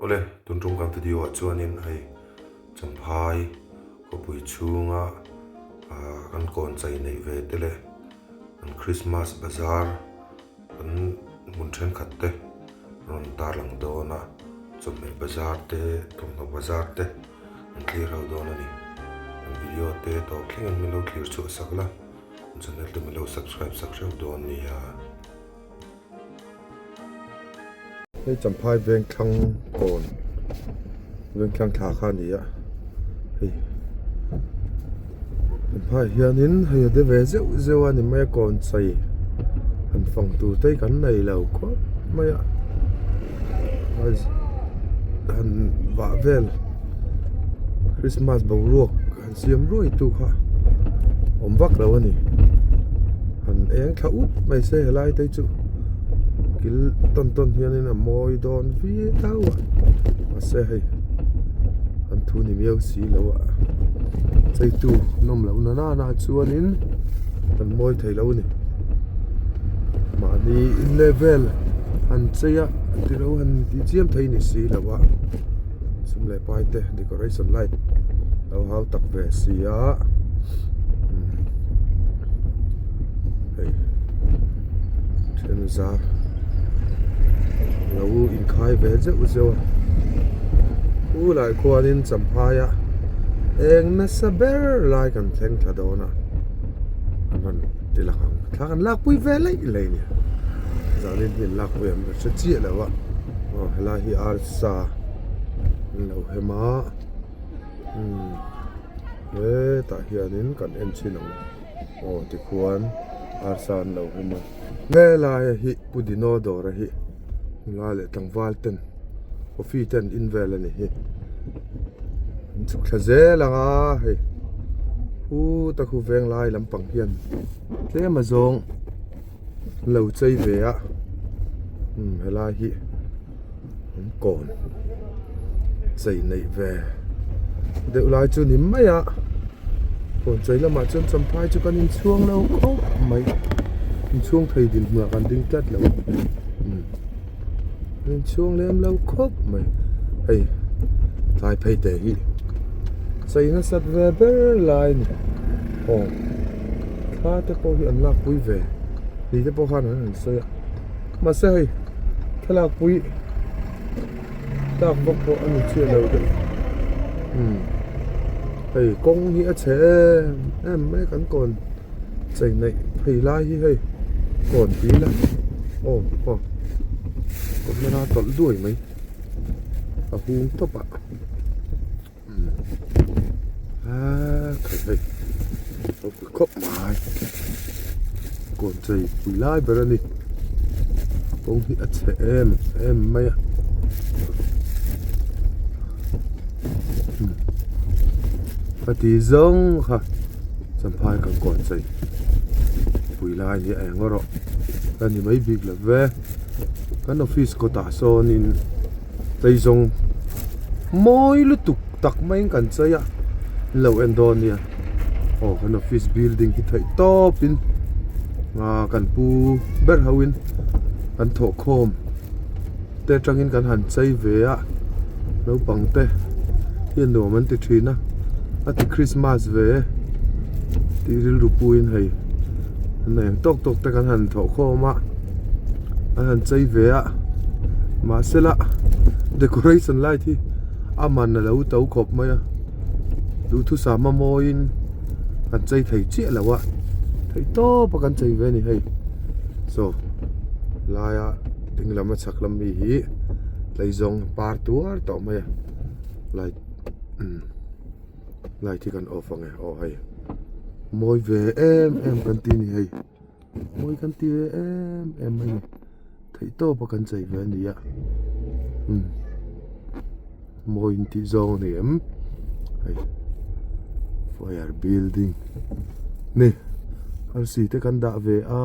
Awle, tun tawngkam video ah chuanin hei Champhai khawpui chhunga kan kawn chei neih ve te leh kan Christmas bazar kan hmun thenkhat te rawn tarlang dawn a, chawhmeh bazar te, thawmhnaw bazar te kan thlir ho dawn a ni. Kan video te tawp thlengin min lo thlir chhuah sak la, channel te min lo subscribe sak hreuh dawn nia. Hei Champhai Vengthlang Tawn, Vengthlang thla kha a ni a, hei Champhai hianin hei a de ve zeuh zeuh a ni mai a, Kawnchai han fawng tur te hi kan nei lo khawp mai a, han vah vel Krismas boruak. siam ruaitu kha awm vak lo a ni han eng thla ut mai se helai te chu kil tawn tawn hian in a mawi dawn viau a mahse hei an thu ni miau si lo a cheitu nawm loh na na nah chuan in an mawi theih lo a ni mahni in level han chei a tilo han inchiam theih a ni si lo a. sum leh pai te decoration light lo hau tak ve si a umm hei thianzar lo inkhai ve zeuh zeuh a u lah khuanin champhai a eng nasa ber lai kan thleng thla dawn a an rawn ti lang ang thla kan lakpui ve laih laih nia zan in hnim lakpui an hre chiah lo a aw helai hi architect -- taksa an lo hem a umm hetah hianin kan en chhin ang aw tikhuan arsa an lo hem a helai a hi pu dino dawr a hi hmla leh tlangval ten coffee ten invel a ni hi an chhuk thla zel ang a hei pu ta khu veng lai lampang hian tlem azawng-- Lo chei ve a umm helai hi an kawn chei neih ve deuh lai chu ni mai a kawn chei lamah chuan champai chu kan in chhuang lo khawp mai in chhuang thei dinhmuah kan ding tlat lo umm. inchhung lem lo khawp mai hei tlai phei te hi chei nasat ve ber lai a ni aw thla te pawh hi an lakpui ve ri te pawh khan an han sawi a mahse hei thlalak pui tak bawk pawh a ni chiah lo deuh hei kawng hi a chhe em em mai kan kawn. Chei neih phei lai hi hei kawn pi la aw aw kawmna a tawlh duai mai a hung tawp a aa khawp hei khawp pi khawp mai kawn chei pui lai ber a ni kawng hi a chhe em em mai a khati zawng kha. Champhai kan kawn chei pui lai nia eng a rawh ka ni mai bik lo ve kan office kawtah sawnin chei zawng mawi lutuk tak mai in kan chei a ni lo en dawn nia aw kan office building hi theih tawpin ahh kan pu ber ho in kan thawhkhawm. te atangin kan han chei ve a naupang te hian nuam an ti thin a a ti Christmas ve tih rilru puiin hei na eng tawk tawk te kan han thawh khawm a an han chei ve a mahse la decoration light hi a man a lo to khawp mai a duhthusam a mawiin kan chei thei chiah lo a theih tawp a kan chei ve a ni hei so laiah-- ding lama chhak lam mi hi hlei zawng par tuar tawh mai a light umm light hi kan off ange aw hei mawi ve em em kan ti a ni hei mawi kan ti ve em em mai a ni theih tawpa kan chei ve a ni a umm mawi in tih zawng a ni em hei fire building ni arsi te kan dah ve a.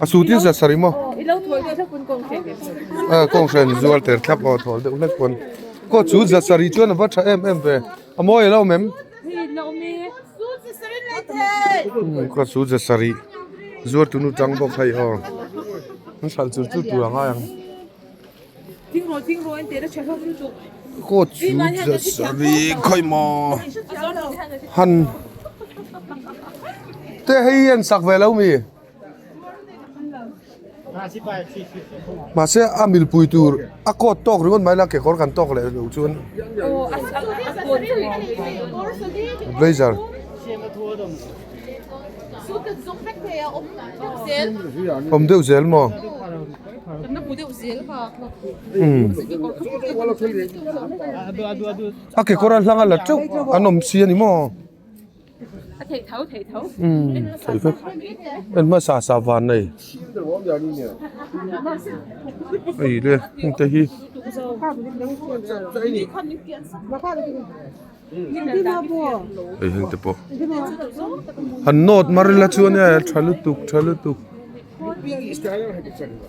a su tih zat sarih maw a kawng hran zuar ter thlap aw thawl deuh hlek pawh a ni kawt chu zat sarih chuan a va tha em em ve a mawi alo mem kawt chu zat sarih zuar tunu chang bawk phei aw an hran chulh chulh tur ang ai ang. Court chu zasarih khawi maw han te hei hian sak ve lo mi mahse a mil pui tur a court tawk ringawt mai la kekawr kan tawk leh lo chuan blazer awm deuh zel maw. A kekawr a hlang a la teuh an awm si a ni maw en hmasa sa van nei ei re hete hi ei hete pawh an nawt mar ila chuan tha lutuk tha lutuk. Khawiah.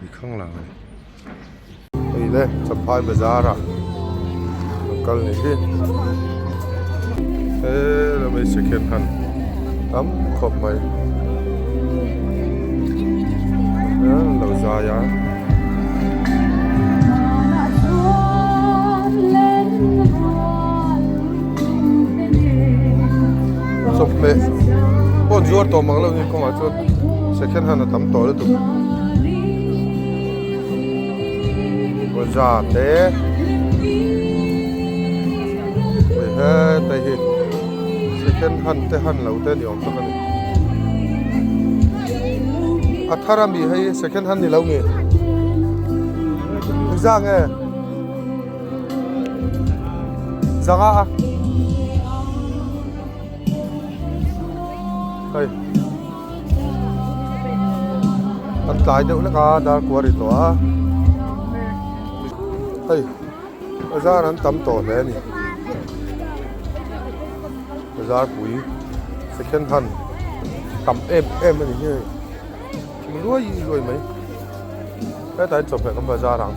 mi khang lang a ni hei le chaphai bazar ah an kal ni hi he la mai second hand tam khawp mai an lo zai a Chawhmeh pawn zuar tawh mak lo ni kawngah chuan second hand a tam tawh lutuk. Bazaar te hei hetlai hi second hand te han lo te ni awm tak a ni. A thar a mi hi second hand ni lo mi? Zang e. Zanga a. Hei. Kan tlai deuh lek a dar kua ri tawh a. Hei. Zan an tam tawh hle a ni. Zar pui second hand tam em em a ni hei. Thing luai luai mai. Hetlai chawp hle ka hmu a zar ang.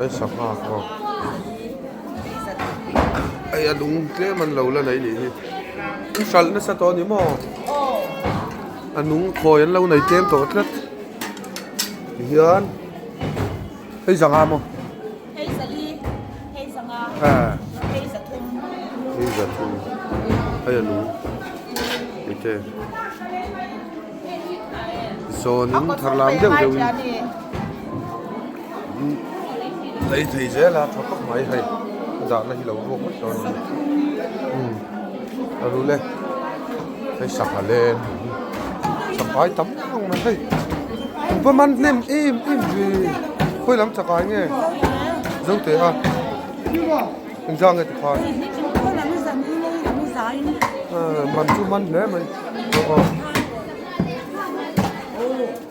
Ai sangha ho. Ai a lung tlem an lo la nei nih hi. I hralh na sa tawh ni maw? A nung khawi an lo nei tlem tawh tlat. Hian. Hei zangha maw? Hei zali, hei zangha. À. Hei zathum. Hei zathum. Ai a lung. Ni te. Zawnin tharlam deuh deuhin. lei thei zel a tha khawp mai hei a dahna hi lo ruak vek lo nih umm a ru le hei sangha len sangkai tam ang mai hei pa man hnem em em hi khawi lam chakah hi nge zo teh a engzah nge tikhan man chu man hle mai.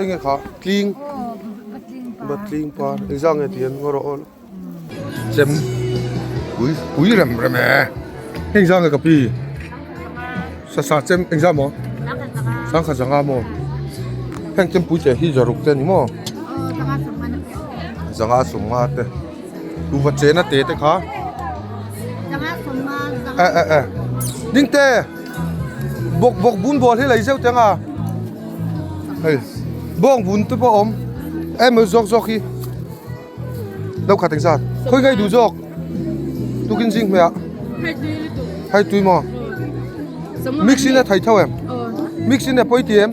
Enge kha tling va tling par exam nge tihian ngaw rawh tlem pui pui rem rem e heng exam nge ka pi sa sa chem exam maw sangkhat zanga maw heng chem pui teh hi zaruk te ani maw zanga sawmnga te tu va chena te te kha zanga sawmnga zanga eh eh eh ding te bawk bawk bun bual hi lei zeuh te anga hei bawng bun te pawh a awm em awh zawk zawk hi lo khat eng zat khawi ngaih duh zawk tukin zing hmeh ah hai tui maw mix in a thai tho em mix in a pawi ti em.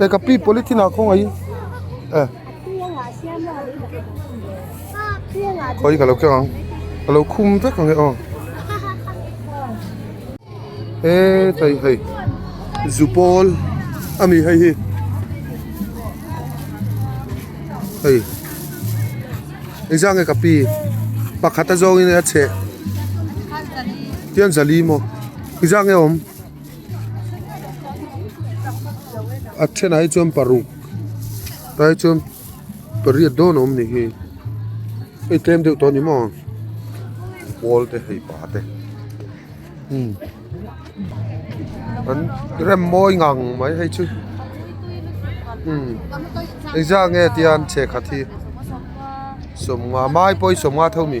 Eh ka pi polythene ah khawngaih ih eh khawi ka lo keng ang ka lo khum vek ang e aw he hei hei zu pawl a ni hei hi hei engzah nge ka pi pakhat a zawng in a chheh khian zali maw engzah nge awm. a then ahi chuan paruk ahi chuan pariat dawn a awm ni hi hei tlem deuh tawh a ni maw pawl te hei pa te hmm an rem mawi ngang mai hei chu hmm exziah nge tian che khat hi sawmnga mai pawh hi sawmnga tho a ni.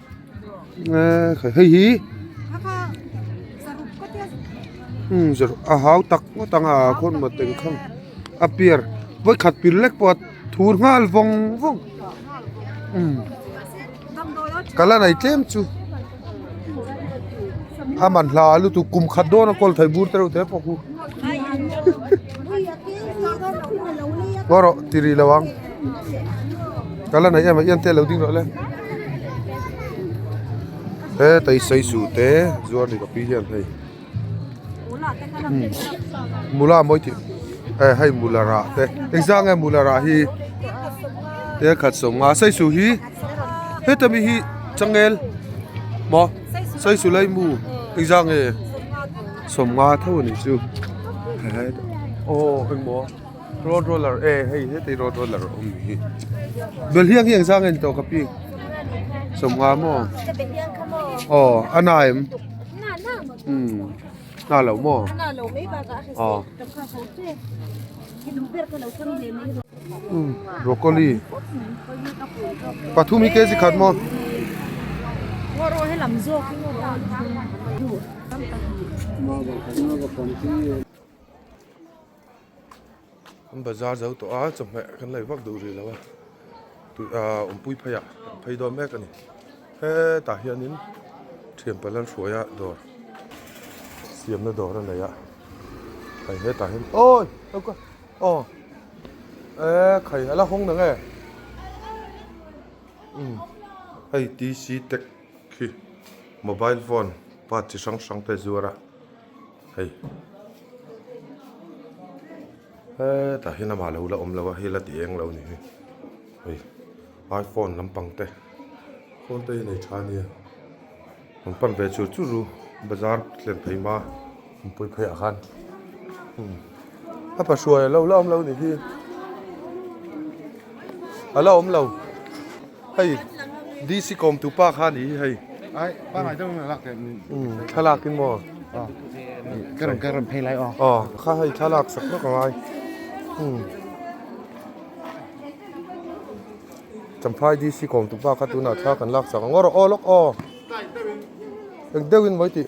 hei hi a hau tak ngawt ang a khawn mawi teng khawm a pier vawi khat pil lek pawh a thur nghal vawng vawng ka la nei tlem chu a man hla a lutuk kum khat dawn a kawl thei bur te reuh te pawh hu rawh tih rih lo ang. ka la neih em a ian te lo ding loh le he taisai suh te zuar ni ka pi hian hei mula mawi tih eh hei mula rah te engzang nge mula rah hi te khat sawm nga sai suh hi heta mi hi changel maw sai suh lai mu engzang nge sawm nga tho a nih chu he aw engmaw. Road roller e hei hetei road roller awm ni hi bel hiak hiak zang en tawh ka pi sawm nga maw aw a na em na lo maw aw broccoli pathum hi kg khat maw ngaw rawh he lam zawk hi ngaw rawh Kan bazar zo tawh a chawhmeh kan laih vak duh rih lo a tui ahh awmpui phei ah kan phei dawn mek a ni he tah hian in thianpa lalhruaia dawr siamna dawr a nei a hei he tah hian awi choka aw eehh khai hala hawng na nge umm hei tc tech khi mobile phone part chi hrang hrang te zuar a. hei he tah hian amah lo la awm lo a hei la ti eng lo ni hi hei iphone lampang te phone te hi a nei tha nia an pan ve chur chur u bazar thlen phaima an pawi phei ah khan hmm. a pa hruai alo la awm lo ni hi ala awm lo hei DC kawmtu pa kha ni hi hei thlalak in maw ka rawn kal rawn phei lai aw aw kha hei thlalak sak sak angai Champhai DC kawmtu pa kha tunah thla kan laksak ang aw rawh aw lawk aw eng deuhin mawi tih.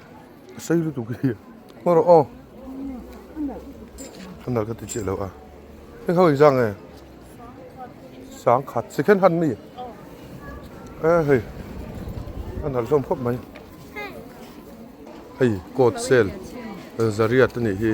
a sei lutuk hi hmaw rawh aw a nalh ka ti chiah loh a heng ho inzang nge sangkhat second hand mi a hei a nalh hlawm khawp mai hei coat sale zariat a nih hi.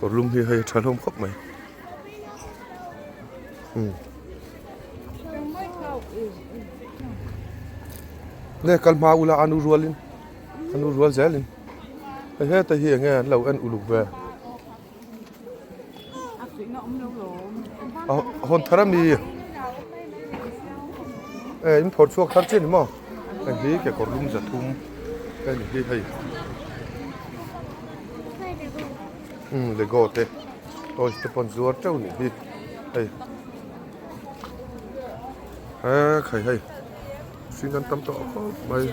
kawrlum hi hei a tha hlawm khawp mai umm nge kal hma ula a nu rual in a nu rual zel in hei heta hi enge an lo en uluk ve a hawn thar a mi e in phawrh chhuak thar chin maw. Hei hi kekawrlum zathum te a ni hi hei umm lego te toys te pawh an zuar teuh a nih hi hei eee khai hei mihring an tam tawh khawp mai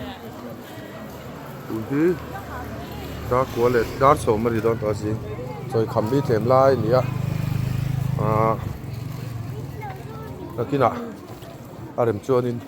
tui hi dar kua leh dar sawm a ni dawn tawh a zing chawi kham hi tlem lai a ni a aaa takin ah a rem chuan in--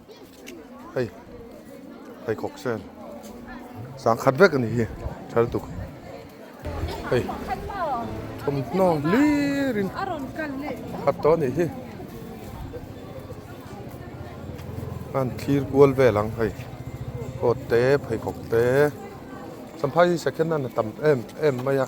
Hei pheikhawk se sang khat vek ani hi thaltuk hei thawmhnaw hlir in khat tawh anih hi an thlir kual vel ang hei coat te pheikhawk te champha hi second hand a tam em em mai a.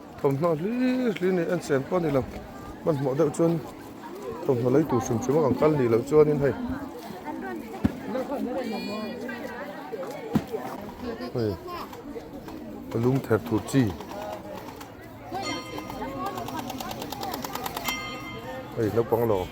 Thawmhnaw hli hli nen en chem pawh a ni lo. Hmanhmawh deuh chuan thawmhnaw lei tur hrim hrim a kan kal nih loh chuanin hei hei ka lum ther thut chi hei naupang lawk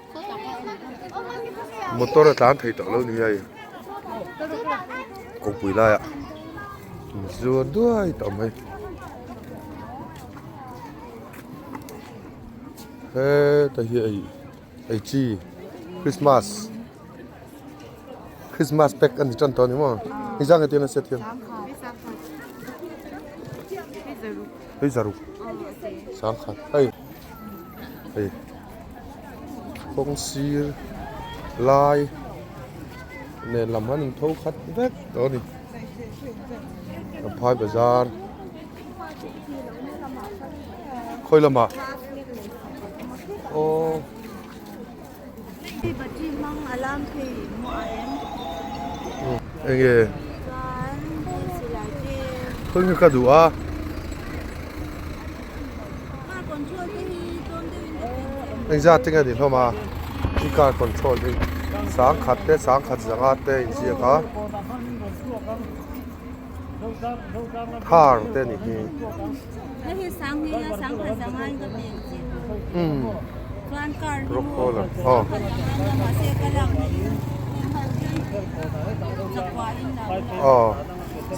motor a tlan thei tawh lo ni hei kawngpui laia in zuar duai ta awm mai heta hi ei ei chi christmas christmas pack a ni tan tawh a ni maw hi zang hethian a set hian hei zaruk sangkhat hei hei kawng sir lai nen lam han in tho khat vek tawh a ni lamphai bazar khawi lamah aww eng nge khawing ka duh a. Engzat eng a ni hlawm a, i car control hi sang khat te sang khat zanga te a inziak a, thar te a nih hi.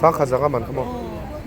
Sang khat zanga man khawm ang.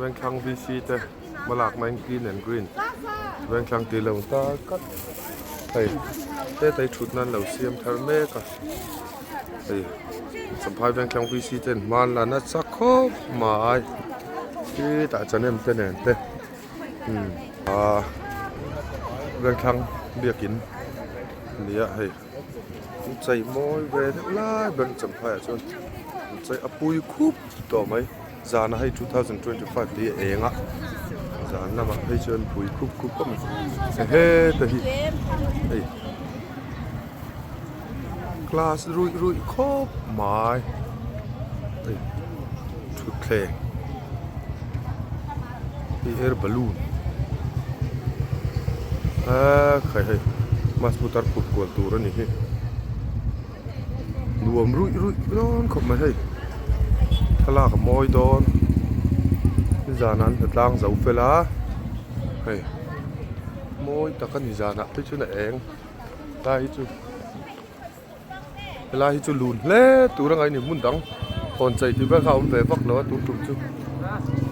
Vengthlang VC te hma lakna in clean and green vengthlang tih lo ta kat hei hetlai thutna an lo siam thar mek a hei Champhai Vengthlang VC te an hmang la nasa khawp mai khi tah chanem te nen te umm a Vengthlang biakin a ni a hei. Chei mawi ve deuh lai ber ni chamhlaiah chuan an chei a pui khup tawh mai. Zana hei two thousand twenty five te hi a eng a, zan lamah phei chuan pui khup khup khawp mai. Hei heta hi hei class ruih ruih khawp mai. Thutthleng. Hei air balloon aa khai hei bus pu tar phut kual tur a ni hi nuam ruih ruih dawn khawp mai hei thlalak a mawi dawn ni zan an hna tlang zo fel a hei mawi tak a ni zan ah phei chuan a eng lai hi chu he lai hi chu lun hle tur a ngaih a ni hmun dang hawn chei tih vel kha a awm ve vak lo a tun tum chu.